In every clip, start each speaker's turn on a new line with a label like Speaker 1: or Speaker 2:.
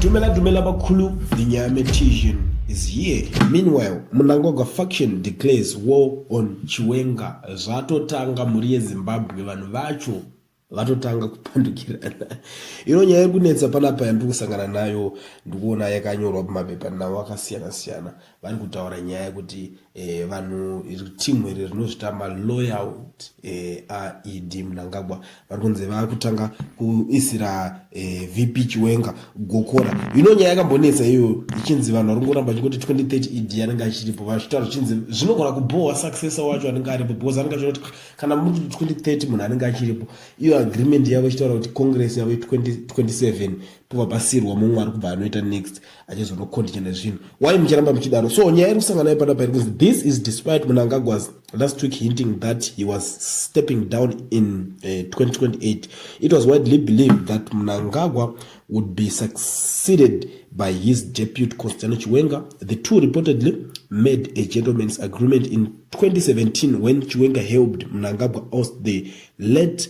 Speaker 1: Dumela Dumela Bakulu, the Nyame Tijan is here. Meanwhile, Mnangagwa faction declares war on Chiwenga. Zvatotanga mhuri yeZimbabwe vanhu vacho vatotanga kupandukirana. Ino nyaya yekunetsa panapa yandiri kusangana nayo ndikuona yakanyorwa pamapepanhau akasiyana siyana. vari kutaura nyaya yekuti eh, vanhu timu iri rinozvitamba loyout eh, aed mnangagwa vari kunzi vava kutanga kuisira eh, vp chiwenga gokora ino nyaya yakambonetsa iyoyo ichinzi vanhu vari kungoramba vachingoti 2030 ed anenge achiripo vachitaura zvichinzi zvinogona kubhohwa successor wacho anenge aripo because anenge achiti ah, kana muri 2030 munhu anenge achiripo iyo agreement yavo ichitaura kuti congress yavo 2027 povabasirwa mumwe ari kubva anoita next achizonokondinya nezvinhu why muchiramba muchidaro so nyaya iri kusangana nayo panapa iri kunzi this is despite munangagwas last week hinting that he was stepping down in uh, eh, 2028 it was widely believed that munangagwa would be succeeded by his depute constano chiwenga the two reportedly made a gentleman's agreement in 2017 when chiwenga helped munangagwa oust the late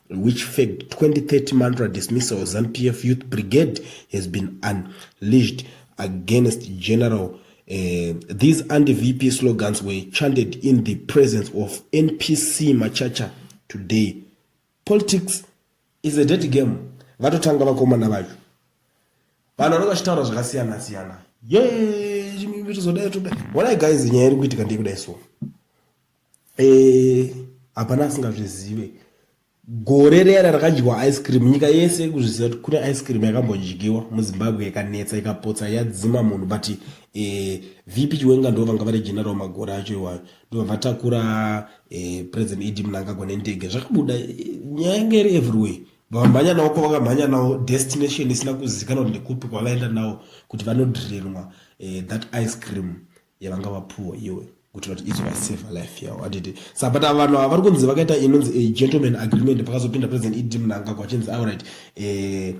Speaker 1: Which fact 2030 mantra dismissal ZANPF Youth Brigade has been unleashed against General Uh, these anti-VP slogans were chanted in the presence of NPC Machacha today. Politics is a dirty game. Vatotanga vakomana vacho. Vanhu vanenge vachitaura zvakasiyana siyana. Yee, zvimwe zvitozodai toda. Wala guys nyaya iri kuitika ndikuda isu. Eh, hapana asingazvizive gore riyana rakadyiwa ice cream nyika yese ikuzviziva kuti kune ice cream yakambodyiwa muzimbabwe ikanetsa ikapotsa yadzima munhu but eh, vp chiwenga ndo vanga vari general magore acho iwayo ndova vatakura eh, president ed mnangagwa nendege zvakabuda eh, nyaya yange iri everywhere vamhanya nawo kwavakamhanya nawo destination isina kuzikanwa kuti ndekupi kwavaenda nawo kuti vanodririnwa eh, that ice cream yavanga vapuwa iwe kuti vati izo vaseva life yavo atiti sa but vanhu ava vari kunzi vakaita inonzi eh, gentleman agreement pakazopinda president ed mnangagwa achinzi auright eh,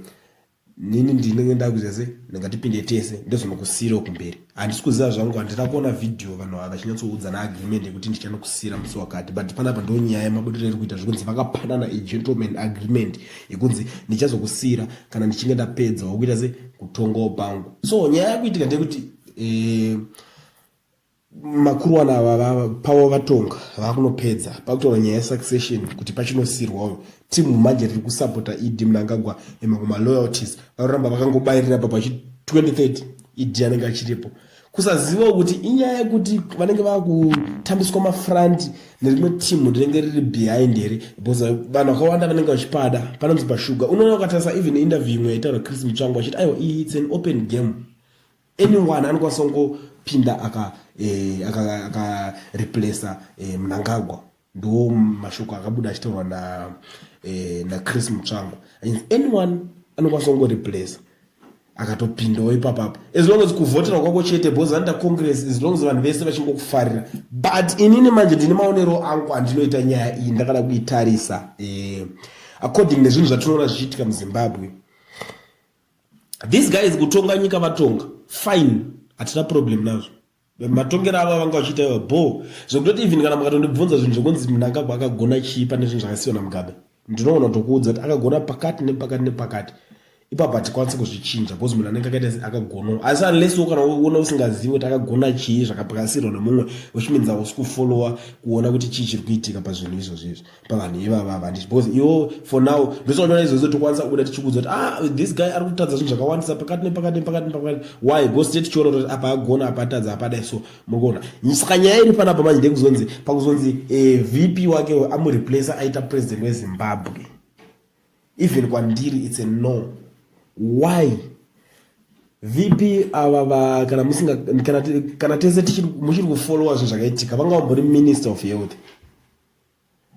Speaker 1: nini ndinenge ndakuziva se ndingatipinde tese ndozvinokusiyira kumberi handisi kuziva zvangu handina kuona vhidhiyo vanhu ava vachinyatsoudza naagreement yekuti ndichanokusiyira musi wakati but panapa ndo nyaya yemabudiro iri kuita zvekunzi vakapanana egentleman agreement yekunzi ndichazokusiyira kana ndichinge ndapedza wakuita se kutongawo pangu so nyaya yakuitika ndeyekuti e, makuruwana ava pavo vatonga vakunopedza pakutaura nyaya yesuccession kuti pachinosirwa uyo timu manje riri kusapota ed mnangagwa emakuma loyalties vanoramba vakangobayirira pa pachi 2030 ed anenge achiripo kusaziva kuti inyaya yekuti vanenge vakutambiswa mafront nerimwe timu rinenge riri behind here because vanhu vakawanda vanenge vachipada panonzi pashuga unoona ukatarisa even interview imwe yaitaura chris mutsvango achiti aiwa iyi its an open game anyone anokwanisa kungopinda aka eh, aka aka replacer eh, mnangagwa ndo mashoko akabuda achitaurwa na eh, na chris mutsvango anyone anokwanisa kungo replacer akatopindawo ipapapo as long as kuvhotera kwako chete bcause vanoita congress as long as vanhu vese vachingokufarira but inini manje ndine maonero angu andinoita nyaya iyi ndakada kuitarisa eh, according nezvinhu zvatinoona zvichiitika muzimbabwe these guys kutonga nyika vatonga fine hatina problem nazvo matongero avo vanga vachiita iva bo zvekutoti even kana makatondibvunza zvinhu zvekunzi mnangagwa akagona chii pane zvinhu zvakasiwa namugabe ndinoona kutokuudza kuti akagona pakati nepakati nepakati ipapo hatikwanisi kuzvichinja bcause munhu anenge akaita akagonawo asi unless wo kana uona usingazivi kuti akagona chii zvakapakasirwa nemumwe which means ausi kufollowa kuona kuti chii chiri kuitika pazvinhu izvozvo izvi pavanhu ivava vandi because iwo for now ndosondoona izvozvo tokwanisa kubuda tichikudza kuti ah this guy ari kutadza zvinhu zvakawandisa pakati nepakati nepakati nepakati why because tee tichiona kuti apa agona apa atadza apadai so murikuona saka nyaya iri panapa manje ndekuzonzi pakuzonzi eh, vp wake amureplace aita president wezimbabwe even kwandiri its a no why vp ava va kana musinga kana tese muchiri kufollowa zvinhu zvakaitika vanga vambori minister of health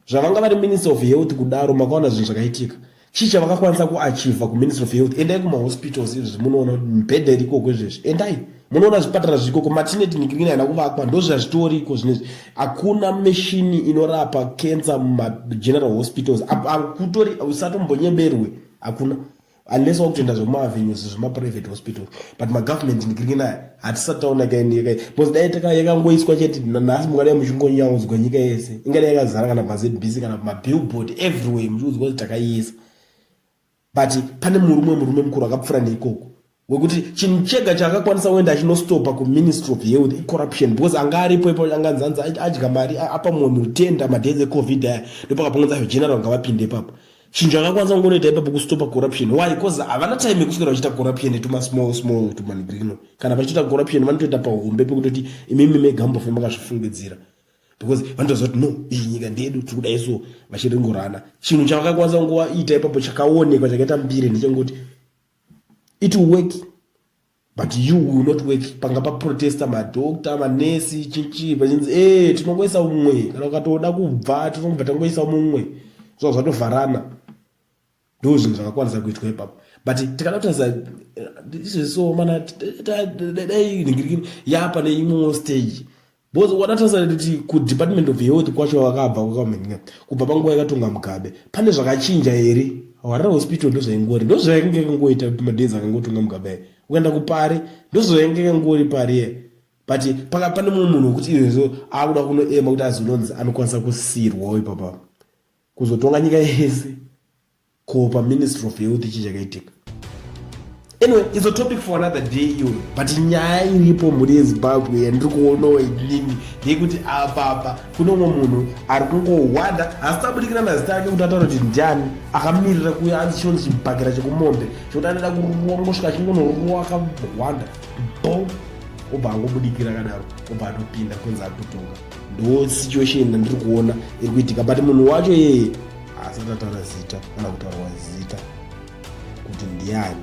Speaker 1: zvavanga vari minister of health kudaro makaona zvinhu zvakaitika chii chavakakwanisa kuachiva kuminister of health endai kumahospitals izvezvi munoona kuti mibhedha iri ikoko izvezvi endai munoona zvipatara zvirikoko matinet nikirina haina kuvakwa ndozvazvitoriko zvinezvi hakuna mishini inorapa cancer mumageneral hospitals akutori usatombonyeberwe hakuna unless wakutoenda zvemaavenues zvemaprivate hospital but magovernment ndikiringe nayo hatisati taona kainyika bcause dai taka yakangoiswa chete nhasi mungadai muchingonyaudzwa nyika yese ingadai yakazara kana pazbc kana pamabillboard everywhere muchiudzwa kuti takaiisa but pane murume murume mukuru akapfura neikoko wekuti chinhu chega chaakakwanisa kuenda achinostopa kuministry of health icorruption because anga aripo ipo anganzi anzi adya mari apa munhu tenda madays ecovid aya ndopakapongonza zvegeneral ngavapinde ipapo chinhu chakakwanisa kungonoita ipapo kustopa corruption why bcause havana time yekuswera vachiita corruption netuma small small tumanigrino kana vachiita corruption vanotoita pahombe pekutoti imimi mega mbofe makazvifungidzira because vanotoziva kuti no iyi nyika ndedu tiri kudai so vachiringorana chinhu chavakakwanisa kungoita ipapo chakaonekwa chakaita mbire ndechengoti it work but you will not work panga paprotesta madoctor manesi chichi pachinzi e tinongoisa umwe kana ukatoda kubva tinobva tangoisa mumwe zva zvatovharana ndo zvinhu zvakakwanisa kuitwa ipapo but tikada kutarisa eh, izvezvo mana dai ningirikini ya pane imwewo stage Bozi wadatasana kuti kudepartment of health kwacho vakabva kwakamhanya kubva panguva yakatonga mugabe pane zvakachinja here harare hospital ndozvaingori ndozvainge yakangoita madays akangotonga mugabe aye ukaenda kupari ndozvainge yakangori pari ye but paka pane mumwe munhu wekuti izvezvo akuda kunoema kuti azononzi anokwanisa kusirwawo ipapa kuzotonga nyika yese ko paministry of health chii chakaitika anyway it's a topic for another day iyoyo but nyaya iripo mhuri yezimbabwe yandiri kuonawo inini ndeyekuti apapa kune umwe munhu ari kungohwanda hasi tabudikira nazita ake kuti ataura kuti ndiani akamirira kuya anzi chinonzi chibhakira chekumombe chekuti anoda kuruwa ngosvika achingonoruwa akahwanda bo obva angobudikira akadaro obva atopinda kunzi ari kutonga ndo situation yandiri kuona iri kuitika but munhu wacho yeye haasati ataura zita kana kutaurwa zita kuti ndiani